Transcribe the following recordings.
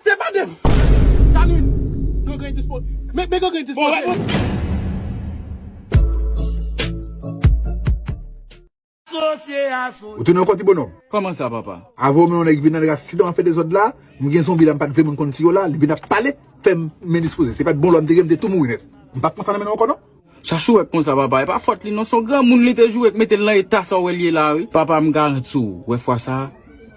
Se pa de. Caline, gangren dispo. Men gangren dispoze. Ou tounen anko ti bonòm? Kòman sa papa? Avè w men yon nèg vin nan nèg la si dan an fè dezòd la, m gen zonbi la m pat vle moun konn si yo la, li vin ap pale, fè m men dispoze. Se pat bon lò m te gen m te tou mouri nèt. M pap konsa nan men nou anko non. Chachou wè konsa papa epa fòt li non son granmoun li te joure k metel nan eta sa wèl ye la wi. Papa m garanti w wè fwa sa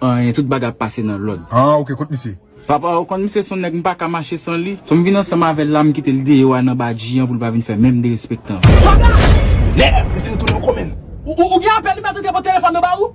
anyen tout bagay ap pase nan lòd. Haa ok kot misye. Papa ou konn misye son nèg m paka mache san li so m vin ansanm avèl la m kitel deyò a nan badji an poul pa vin fè menm derespektan. Sòlda! Mèd! Misye retounen ankò menn. Ou gen apèl li mèt ou gen bon telefòn yo ba ou?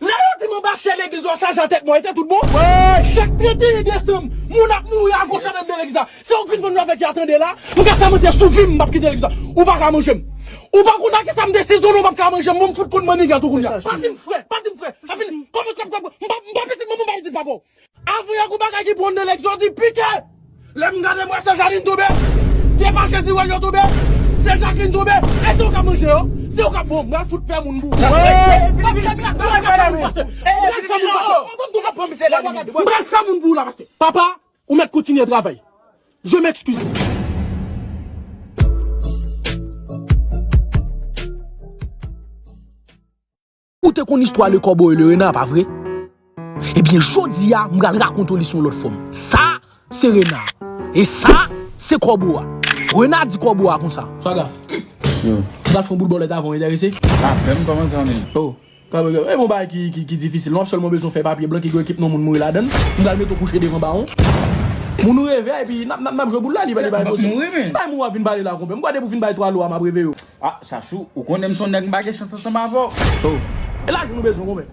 Lè yo di manba chè legliz yo chaje atèt mwen, te tout bon? Chak 31 desanm, moun ap mouri agoch andenm de legliz la. Sa ou k vin vann nou avèk ya tande la, m ka sèmante sou vi m m pap kite legliz la. Ou pa ka manje m. Ou pa konn akisa m desizone ou pap ka manje m bon m fout konn mannigat ou kounya. Pa di m frè, pa di m frè. Sa fini. Kòman m k ap m pa pitit manman m pa pitit papa w. Avwe yo kou bagay ki bon nan lèg zo di pike lèm gade mwen se Janine toube se pa jezi wè yo toube se Jacqueline toube èske ou ka manje yo se ou ka bon mwen fout pè moun pou ou mpral fè moun pou ou la paske papa ou mèt kontinye travay je m'excuse. Ou te konn istwa Le Corbeau et le Renard pa vre? Ebyen jodi a m pral rakonte w li sou yon lòt fòm. Sa se Renard e sa se Corbeau a. Renard di Corbeau a konsa. Swaga, Yo. m pral fè yon bout bòlèt avè w, enterese? Apèn m kòmanse an li. O, Corbeau, e bon bagay ki difisil. M ap sèlman bezwen fè papye blan ki gen ekip non moun mouri ladan l. M pral mete w kouche devan bawon. Moun ou reve a epi n ap jwe boul la. Li pa gen bagay kote. M ap mouri men. Bay moun w ap vin pale la konpè. M kwè depi w fin bay 3 lo a m ap reveye w. Ah chachou ou konnen m son nèg m pa gen chans ansanm avè w oh. E lajan nou bezwen goumen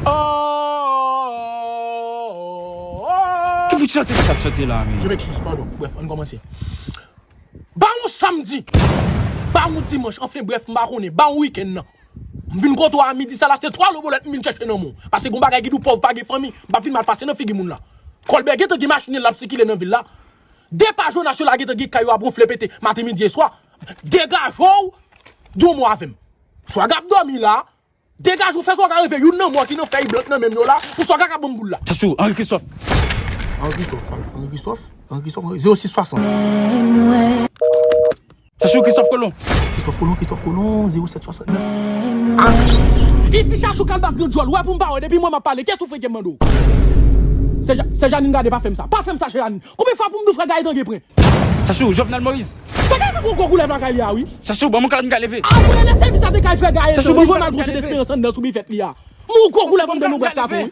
oohh. Ki fout chante misye ap chante la menm. Je m'excuse pardon bref ann kòmanse Ba yon samdi Ba yon dimanch anfen bref m pa konnen Ba yon wikenn nan M vin kote w a midi sa la se 3 lo bolèt m vin chèche nan men w Pase gon bagay ki di w pòv pa gen fanmi M pa fin mal pase nan figi moun la Kòlbè gentan gen machin l l ap sikile nan vil la Depa Jonas yo la gentan gen kay yo ap ronfle pete maten midi e swa. Degaje'w Yon mo avè'm. Swaga ap domi la. Degaje ou fè swaga reve youn nan mo ki nan fèy blank nan men'm yo la pou swaga ka banm boul la. Sa sou Henri Christophe. Henri Christophe, Henri Christophe, Henri Christophe, Henri Christophe, 06 60. Se sou Christophe Colomb. Christophe Colomb, Christophe Colomb, 0769 ak. Ici chachou kalbas gen dyòl wè pou m pa wè depi m wè m ap pale kè souflete m mande w Sè Janine gade pa fè m sa pa fè m sa chè Janine konbyen fwa pou m di w frè Gaëtan gen pren. Chachou, Jovenel Moïse. Frè Gaëtan gen yon gwo koulèv lakay li a wi. Chachou, ban m yon kalòt m ka leve. Apre lè sèvis la te kay frè Gaëtan li pran malgro je Desperance anndan sou bifèt li a. M yon gwo koulèv anndan nou bwat kafe wi.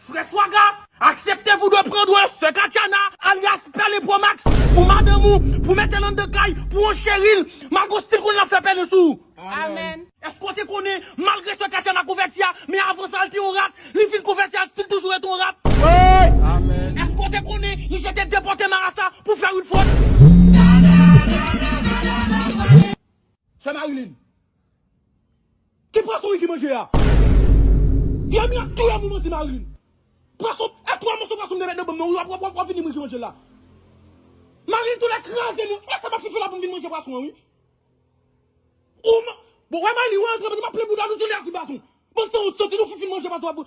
Frè Swaga, aksepte pou dwe pran dwe sè Katchana, alyas Pèlen Pro Max, pou madanm ou, pou mete l anndan kay, pou on cheri l, malgre w stil konnen l ap fè pèlen sou ou. Amen. Èske w te konnen, malgre sè Katchana konvèti a, men avan sa l te on rat, li fin konvèti a l stil toujou rete on rat? Amen. Èske w te konnen, li jete depòte marasa pou fè Rutford? Sè Marilyn. Ki pwason Ricky manje a? Vye mi ap touyem ou manti marim. Pwason e 3 moso pwason mte met nan bonm nan wi wap wap fini m Ricky manje la. Marim tou lè kraze nou e sa map foufe la poum vin manje pwason an wi. Ou man bon wè Maylie ou antre map plen boudaw nou tou lè a kout baton. Bann sanwont santi nou fout fin manje pwason wap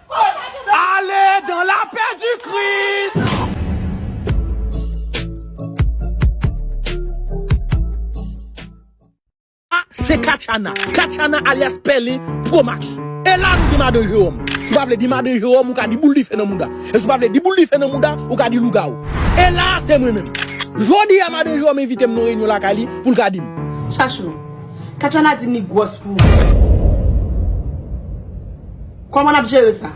Ale dan la pè di kris. Sa se katchana, katchana alyas pèlen pro max E la nou gen madan jewòm Si w pa vle di madan jewòm ou ka di boul dife nan mouda E si w pa vle di boul dife nan mouda ou ka di lougawou E la se mwen menm Jodi a madan jewòm envite m nan reyinyon lakay li pou l ka di m. Chachou, katchana di m li gwòs pou ou. Koman nap jere sa?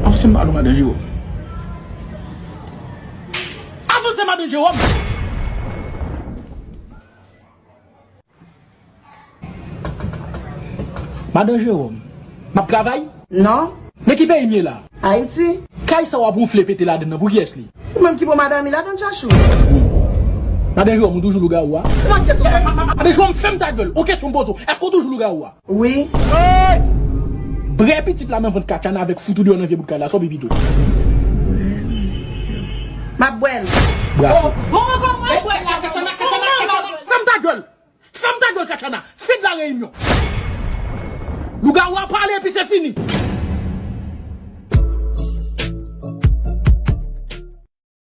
Avanse ba nou madan Jerome. Avanse madan Jerome. Madan Jerome. Map travay? Non. Nan ki peyi m ye la? Ayiti. Kay sa wap wonfle pete ladann nan pou kiyes li? Ou menm ki pran madan mi ladann chachou. Madan Jerome ou toujou lougawou a? Madan Jerome fèm ta gèl. Ou kesyon m poze w eske w toujou lougawou a? Wi. Bre pitit la nan vant kachana avek fout ou deyo nan vye bout kay la so pipi tou. Map bwel. Bravo. Fèm ta gèl. Fèm ta gèl kachana. Fin la reyinyon. Lougawou a pale epi se fini.